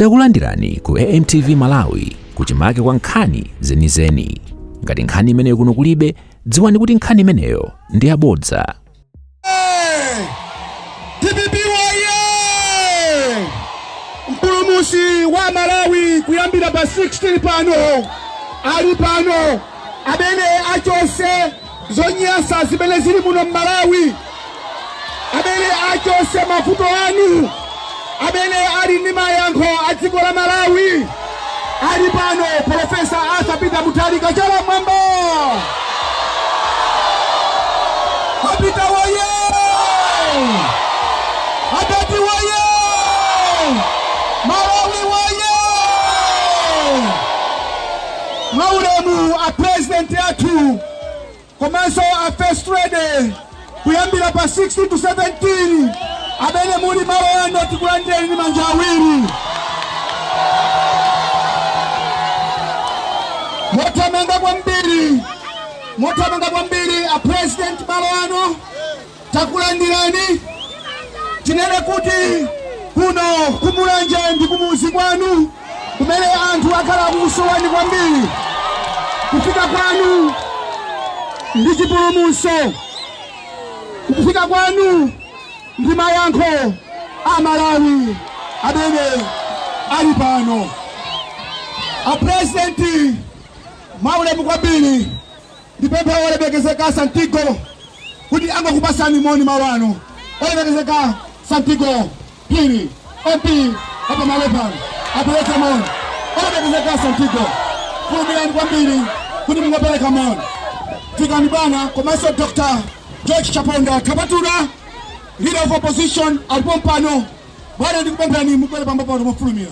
Takulandirani ku AMTV Malawi kuchimake kwa nkhani zenizeni. Ngati nkhani imeneyo kuno kulibe, dziwani kuti nkhani imeneyo ndi yabodza. DPP woye! Mpulumutsi wa Malawi kuyambira pa 16 pano ali pano amene achotse Zonyasa zimene zili muno m'Malawi, amene achotse mavuto anu, amene ali ndi mayankho a dziko la Malawi ali pano. Profesa Arthur Peter Mutharika chala m'mwamba APM woye adadi woye Malawi woye Mwa ulemu a President athu komanso a First Lady kuyambira pa 16 to 17 amene muli malo ano tikulandirani ndi manja awiri. Mothamanga kwambiri, mothamanga kwambiri a President malo ano Takulandirani tinene kuti kuno ku Mulanje ndi kumuzi kwanu kumene anthu akhala akukusowani kwambiri. Kufika kwanu ndi chipulumutso, kufika kwanu ndi mayankho a Malawi amene ali pano. A President mwaulemu kwambiri Ndipemphe olemekezeka a Santigo kuti angokupasani moni malo ano. Olemekezeka a Santigo Phiri, MP wa pamalo pano, apereke moni. Olemekezeka a Santigo, fulumirani kwambiri kuti mungopereka moni. Fikani bwana, komanso Dr. George Chaponda Kapatula, leader of opposition, alipo mpano. Bwana ndikupemphani mubwere pambo pano mofulumira.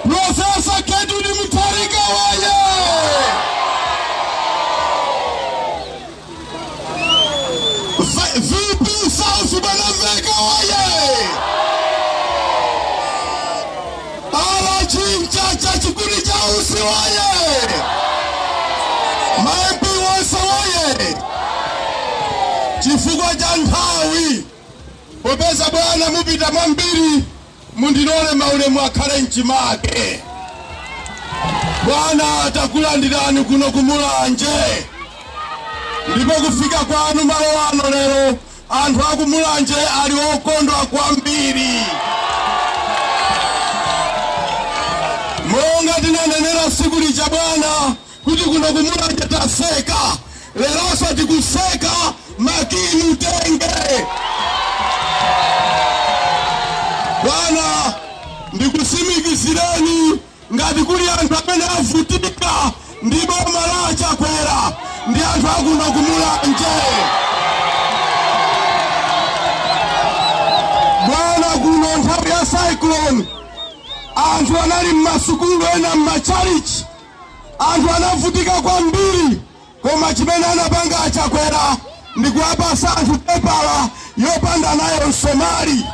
Profesa Gertrude Mutharika woye! V- VP South Mwanamvekha woye! RG Mchacha Chikuni cha utsi woye! Ma MP onse woye! Chifukwa cha nthawi popeza bwana mupita mwambiri Mundilole maulemu akhale mchimake. Bwana takulandirani kuno ku Mulanje, ndipo kufika kwanu malo ano lero, anthu a ku Mulanje ali okondwa kwambiri. Monga tinanenera tsiku lija bwana kuti kuno ku Mulanje tatseka, leronso tikutseka, makiyi mutenge. Bwana, ndikutsimikizireni ngati kuli anthu amene avutika ndi boma la a Chakwera ndi anthu akuno ku Mulanje bwana kuno nthawi ya cyclone anthu anali m'masukulu ena m'matchalichi Anthu anavutika kwambiri koma chimene anapanga a Chakwera ndi kuwapasa anthu pepala yopanda nayo nsomali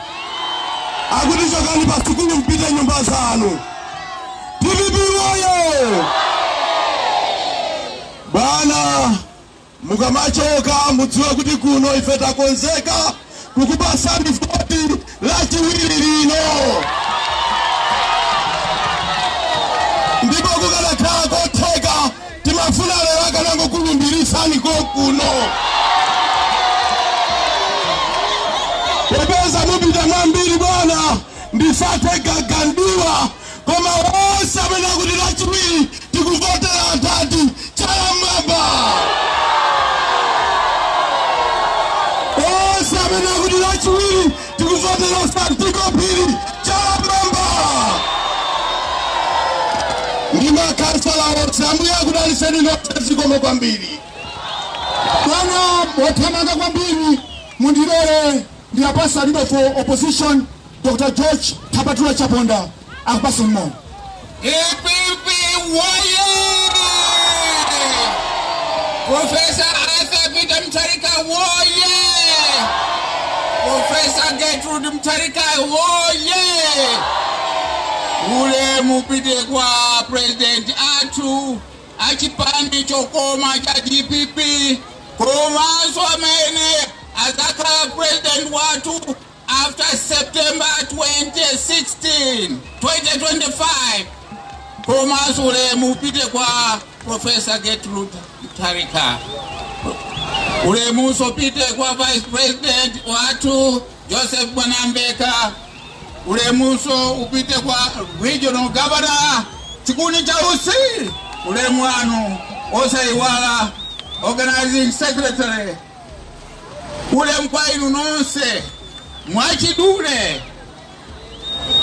akuti chokani pa sukulu mpite nyumba zanu. DPP woye! Bwana Mukamachoka mudziwe kuti kuno ife takonzeka kukupasani voti lachiwiri lino ndipo kukanakhala kuti n'kotheka timafuna lero akanangokulumbirisani konkuno popeza mupita mwambiri bwana ndisathe gagandiwa Koma onse amene akuti lachiwiri tikuvotera a Chaponda chala mmwamba. Onse amene akuti lachiwiri tikuvotera Santiago Phiri chala mmwamba. Ndi makhansala onse ambuye akudaliseni nonse zikomo kwambiri. Bwana pothamanga kwambiri mundilole ndiwapatse leader of opposition Dr. George Thapatula Chaponda akupaseni moni. DPP woye! Profesa Arthur Peter Mutharika woye! Profesa Gertrude Mutharika woye! Ulemu upite kwa president athu achipani chokoma cha DPP komanso amene azakhala president wathu After September 16, 2025, komanso ulemu upite kwa Professor Gertrude Mutharika. Ulemunso upite kwa Vice President wathu Joseph Mwanamveka. Ulemunso upite kwa Regional Governor chikuni chautsi. Ulemu wanu osaiwala Organizing Secretary Ulemu kwa inu nonse. Mwachidule,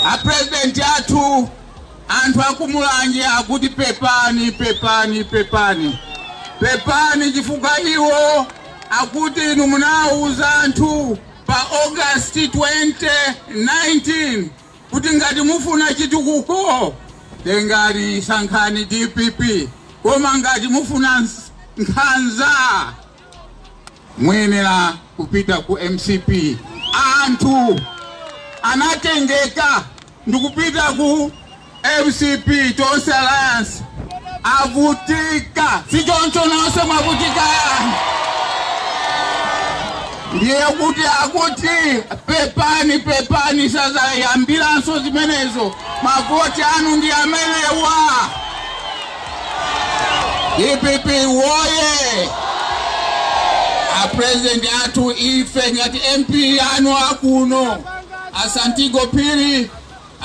a president athu anthu aku Mulanje akuti pepani pepani pepani pepani, chifukwa iwo akuti inu munawuza anthu pa August 2019 kuti ngati mufuna chitukuko tengani sankhani DPP, koma ngati mufuna nkhanza muyenera kupita ku mcp anthu anatengeka ndikupita ku mcp tonse alliance avutika si choncho nonse mwavutika ndiye kuti akuti pepani pepani sazayambiranso zimenezo mavoti anu ndi amenewa dpp woye apresident athu ife ngati mp anu akuno a santigo phiri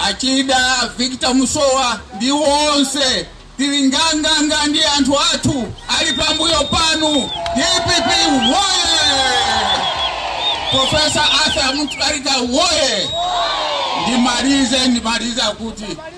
a chida victor musowa ndi wonse tili nganganga ndi anthu athu ali pambuyo panu dpp woye profesa arthur mutharika woye ndimalize ndimaliza kuti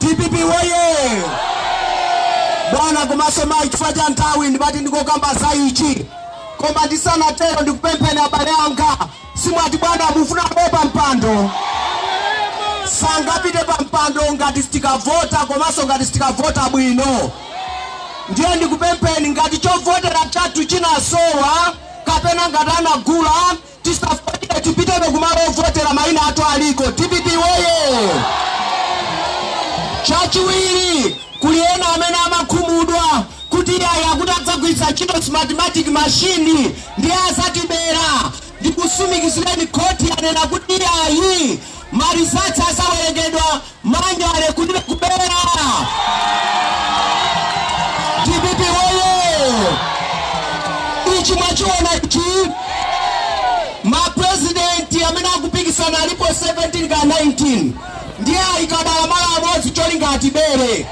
Dpp woyee! Bwana komanso mayi, chifukwa cha nthawi ndimati ndingokamba za ichi, koma ndisanatero ndikupempheni abale anga, simwati bwana mufuna abwere pa mpando? Sangapite pa mpando ngati sitikavota komanso ngati sitikavota bwino. Ndiye ndikupempheni ngati chovotera chathu chinasowa kapena ngati anagula Tisafoire tipitebe kumalo ovotera maina athu aliko. Dpp woyee! Chachiwiri kuli ena amene amakhumudwa kuti iyayi akuti adzagwiritsa ntchito smartmatic machine ndiye azatibera. Ndikusimikizireni khoti yanena kuti iyayi ma results azawerengedwa Manually kulibe kubera. Dpp woye! Ichi mwachiona ichi. Mapresidenti amene akupikisana alipo 17 ka 19 ndiye ayika dala malo amodzi cholinga atibere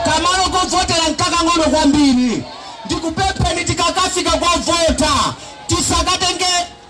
kamalo kovotera nkakang'ono kwambiri ndikupempheni tikakafika kovota tisakatenge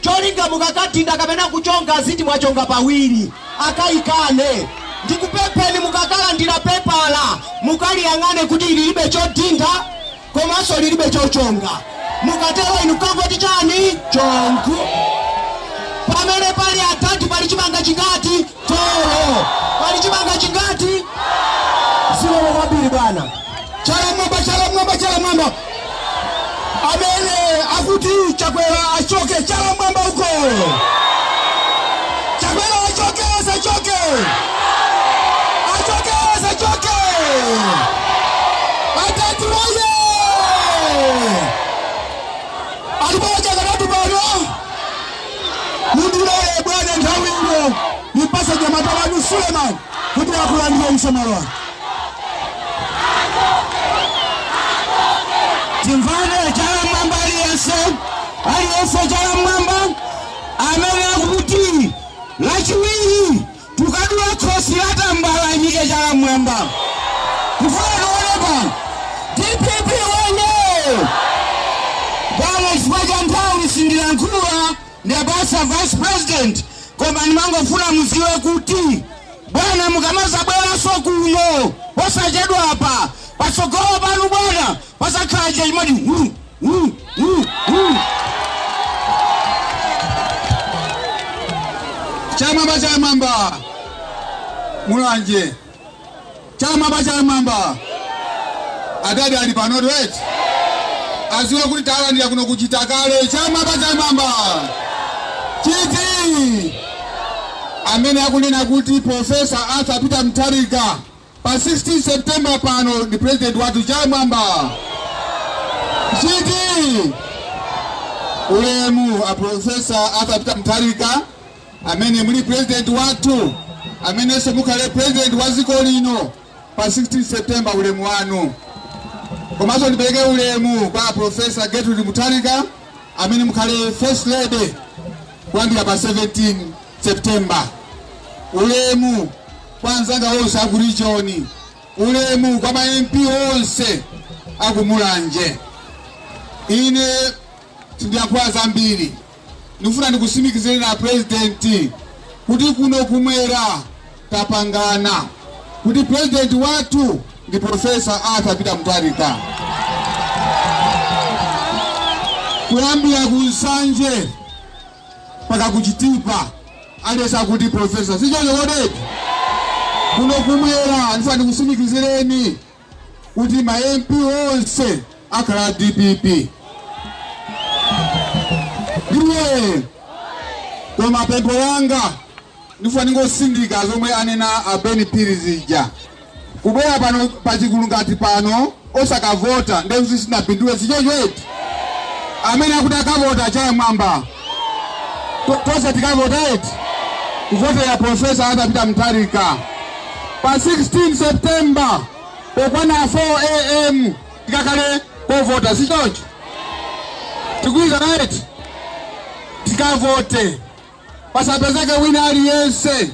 cholinga mukakadinda kapena kuchonga aziti mwachonga pawiri akayikane ndikupempheni mukakalandira pepala mukaliyang'ane kuti lilibe chodinda komanso lilibe chochonga mukatero inu kangoti chani chongu pamene pali adadi pali chimanga chingati Thyolo. Pali chimanga chingati? Zikomo kwambiri bwana. Chala mwamba, chala mwamba, chala mwamba. Amene akuti Chakwera achoke chala mwamba uko. Chakwera achoke asachoke. Achoke asachoke. Atatu oye. Alipo wachakanatu bwana. Mundilole bwana nthawi ino nimpase nyamata wanu Suleman kuti akulandireni m'malo mwanu. Timvane chala mwamba aliyense aliyense chala mwamba amene akuti lachiwiri Tukadula khosi la tambala ayimike chala mmwamba kufuna aonepa dpp woyee bwana chifukwa cha nthawi sindilankhula ndiwapasa vice president koma ndimangofuna muziwe kuti bwana mukamazabweranso kuno posachedwa apa patsogolo panu bwana pasakhala chachimodzi hu chala mwamba chala mwamba mulanje chala mwamba chala mwamba adadi ali pano right aziwe kuti talandira kuno ku chitakale chala mwamba chala mwamba chiti amene akunena kuti profesa arthur peter mutharika Pa 16 September pano ndi president wathu chala mwamba chiti ulemu a profesa Arthur Peter Mutharika amene muli president wathu amenenso mukhale president wa dziko lino pa 16 September ulemu wanu komanso ndipereke ulemu kwa profesa Gertrude Mutharika amene mukhale first lady kuyambira pa 17 September ulemu Kwa anzanga onse aku region, ulemu kwa ma MP onse aku Mulanje. Ine sindiyankhula zambiri ndikufuna ndikusimikizireni a president kuti kuno kumwera tapangana kuti president wathu ndi professor Arthur Peter Mutharika kuyambira ku Nsanje mpaka ku Chitipa aliyense akuti profesa, si choncho kodi eti? Kuno kumwera ndifuna ndikusimikizireni kuti ma MP onse akhala a DPP ndiye koma pempho langa Ndifuna ndingosindika zomwe anena a Ben Phiri zija. Kubwera pano pa chigulu ngati pano osakavota ndiye kuti sitinapindule sichoncho eti. Amene akuti akavota achaye mwamba. To- Tonse tikavota eti. Kuvotera Profesa Arthur Peter Mutharika. Pa 16 September pokwana 4 am tikakale kovota sichoncho. Tikuuzana eti. Tikavote. pasapezeke wina aliyense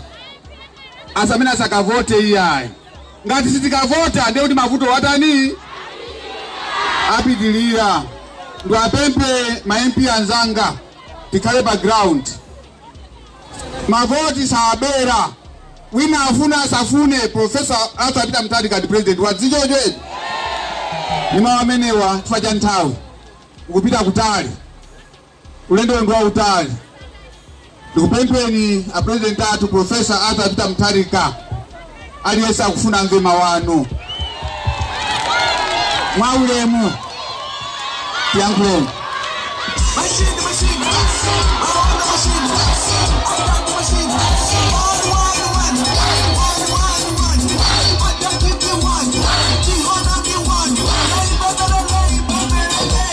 asamene asakavote iyayi ngati sitikavota ndiye kuti mavuto watani apitilira ndiwapemphe ma MP anzanga tikhale pa ground mavoti sabera wina afuna asafune profesa Arthur Peter Mutharika ndi president wa dziko lino ni mawu amenewa chifukwa cha nthawi tikupita kutali ulendo ndi wautali ndikupempheni apurezidenti athu profesa arthur peter mutharika aliyense akufuna amve mawu anu mwaulemu tiyankhuleni Thank you.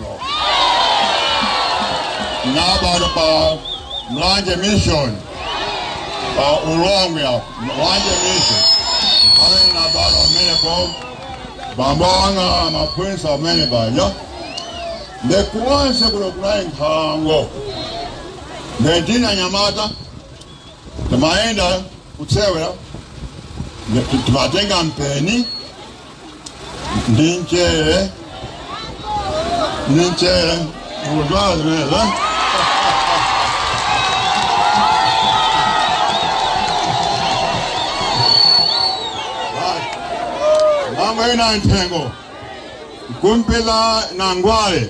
ndinabadwa pa mlanje mission pa ulongwe apa mlanje mission pamene ndinabadwa pamenepo bambo anga amaphunzitsa pamene paja nde konse kuno kunali nkhalango nde tili anyamata timayenda kusewera timatenga mpeni ndi mchere ndi mchere mukudziwa zimenezo kumayenda mthengo nkumapha ngwale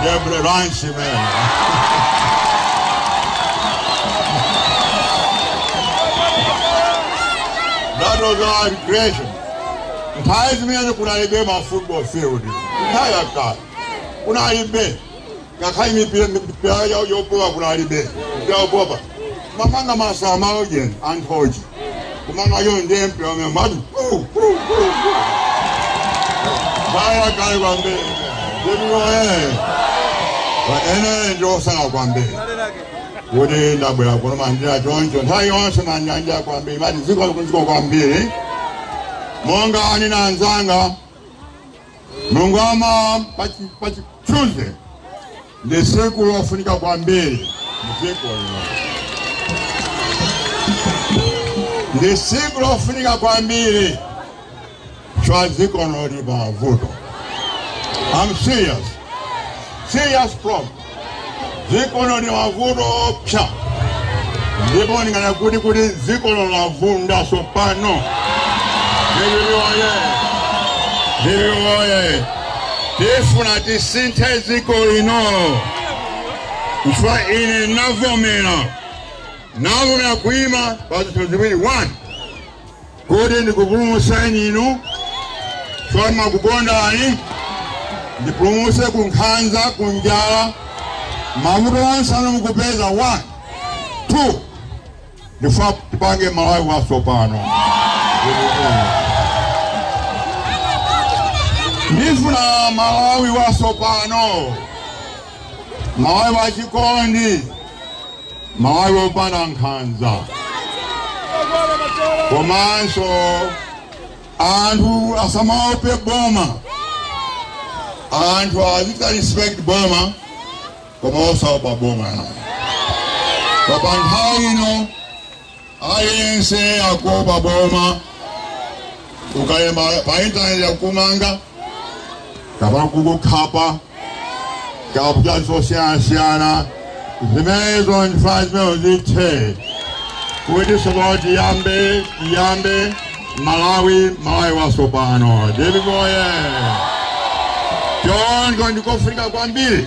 Nde breakfast imeneyo. That was our recreation. Nthawi zimenezo kunalibe ma football field. Nthawi yakale. Kunalibe. Ngakhale mipira mipira yo- yopowa kunalibe. Mipira yopopa. Timamanga masamba ojeni anthochi. kumanga iyo ndiye mpira wa miyendo wathu paja kale kwambiri nde kunoko ine ndi wosangalala kwambiri kuti ndabwera kuno mwandilandira choncho nthawi yonse ndimanyada kwambiri mmalo oziziritsa kunozi kwambiri monga anina anzanga Bungoma pa Tuesday ndi tsiku lofunika kwambiri mdziko lino, ndi tsiku lofunika kwambiri chifukwa dziko lino lili pa vuto. I'm serious, serious problem. dziko lino lili pa vuto loopsa ndipo ndinganene kuti kuti dziko lino lavunda tsopano DPP oye DPP oye tifuna tisinthe dziko lino chifukwa ine navomera navomera kuima pa zinthu ziwiri one Kuti ndikupulumutseni inu chifukwa ndimakukondani, ndipulumutse ku nkhanza, ku njala, mavuto onse amene mukupeza? One, two, ndifuna tipange Malawi watsopano. Ndifuna Malawi watsopano. Malawi wa chikondi Malawi wopanda nkhanza komanso anthu asamaope boma anthu azichita respect boma koma osaopa boma pa nthawi ino Aliyense akuopa boma, ukalemba pa intaneti akukumanga kapena kukukhapa kapena zosiyanasiyana zimenezo ndifuna zimenezo zithe kuti sopano tiyambe tiyambe malawi malawi wasopano DPP oye choncho ndikofunika kwambiri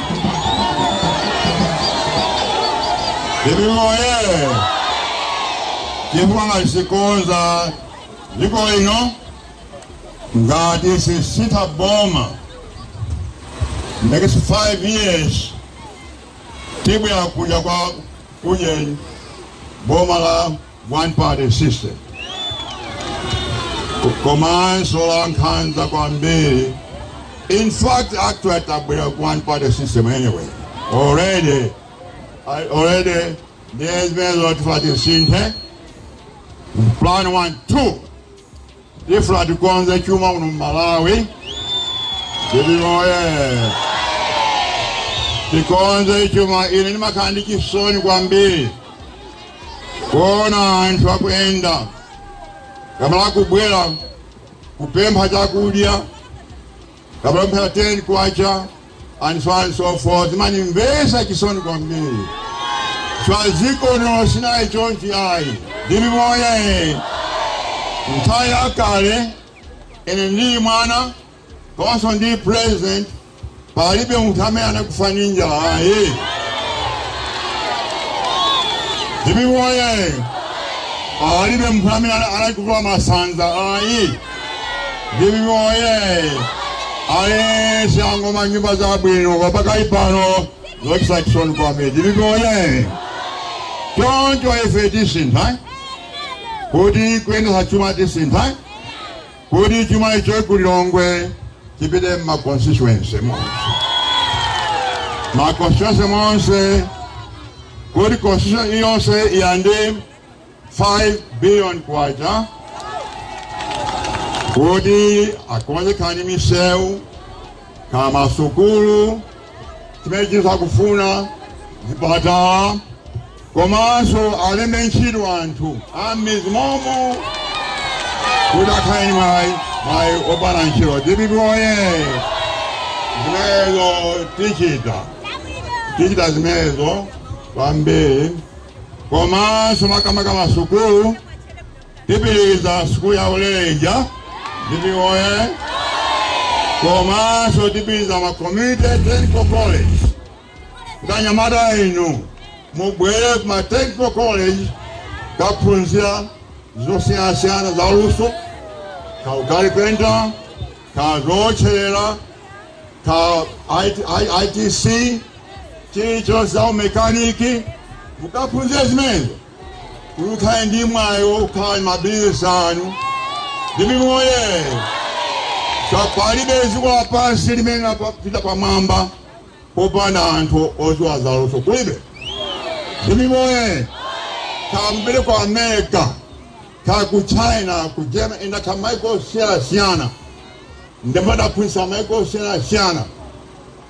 DPP oyee! Chifukwa ngati sitikonza dziko lino ngati sitisintha boma next five years tibwera kuja kwa kuje boma la one party system komanso la nkhanza kwambiri in fact actually tabwera ku one party system anyway already I- already ndiye zimenezo tifuna tisinthe plan one two Tifuna tikonze chuma muno m'Malawi. DPP oye! Tikonze chuma ine ndimakhala ndi chisoni kwambiri kuona anthu akuyenda kamala kubwera kupempha chakudya kapemphera K10 and so on and so forth zimandimvesa chisoni kwambiri chifukwa dziko lino sinali chonchi ayi DPP oye nthawi yakale ine ndili mwana komanso ndi president palibe munthu amene anakufa ndi njala ayi DPP oye palibe munthu amene anakufa masanza ayi DPP oye aliyense angomanga nyumba zabwino koma pakali pano zochititsa chisoni kwambiri. DPP oye choncho ife tisintha kuti kuyendetsa chuma tisintha kuti chuma icho ku Lilongwe chipite mma constituency monse ma constituency monse kuti constituency yonse ilandire 5 billion kwacha kuti akonze nkhani misewu kaya masukulu chimene chinthu akufuna zipatala komanso alembe ntchito anthu a mmidzi momo kuti akhale ndi mwayi mwayi opanga ntchito dpp oye zimenezo tichita tichita zimenezo kwambiri komanso makamaka masukulu tipitiriza sukulu ya ulere ija DPP oye komanso tipitiriza ma community technical college anyamata inu mubwere ku ma technical college kukaphunzira zosiyanasiyana za luso kaya ukalipenta kaya zootcherera kaya ITC chilichonse za umekaniki mukaphunzire zimenezo kuti mukhale ndi mwayi okhala ndi mabizinesi anu DPP oye palibe dziko lapansi limene lapita pamwamba popanda anthu odziwa zaluso kulibe DPP oye kaya mupite ku amerika kaya ku china ku germany ine ndakhala maiko osiyanasiyana ndipo ndaphunzitsa maiko osiyanasiyana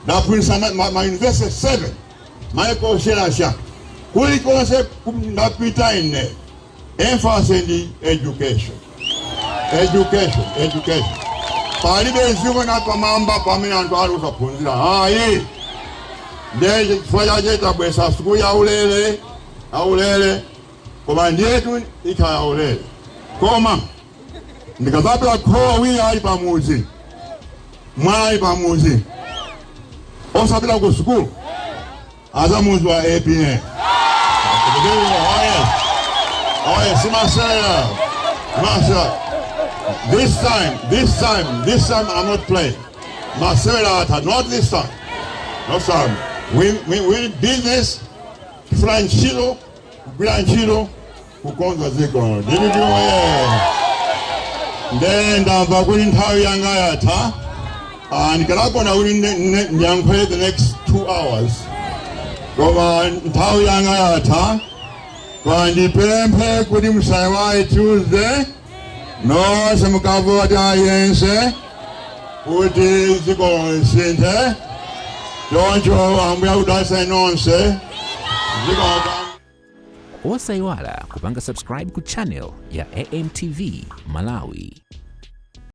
ndaphunzitsa ma- ma- mauniversity 7 maiko osiyanasiyana kulikonse ku- ndapita ine emphasis ndi education education education palibe dziko linapita pamwamba pamene anthu ali osaphunzira ayi ndiye chifukwa chache tabweretsa sukulu yaulere aulere koma ndiyetu ikhala yaulere koma ndikazapeza kholo awiri ali pamudzi mwana ali pamudzi osapita ku sukulu azamudziwa apm oye simasera masera this time this time this time i'm not playing masera ata not this time no time we, we, we business tifuna ntchito kugwira ntchito kukonza dziko dpp oyee nde ndamva kuti nthawi yanga yatha Ah, ndikanakonda kuti ne- ne- ndiyankhule the next two hours koma nthawi yanga yatha koma ndipemphe kuti musayiwale tuesday nonse mukavote aliyense kuti dziko lisinthe choncho ambuye akudalitseni nonse zikomo osayiwala kupanga subscribe ku channel ya amtv malawi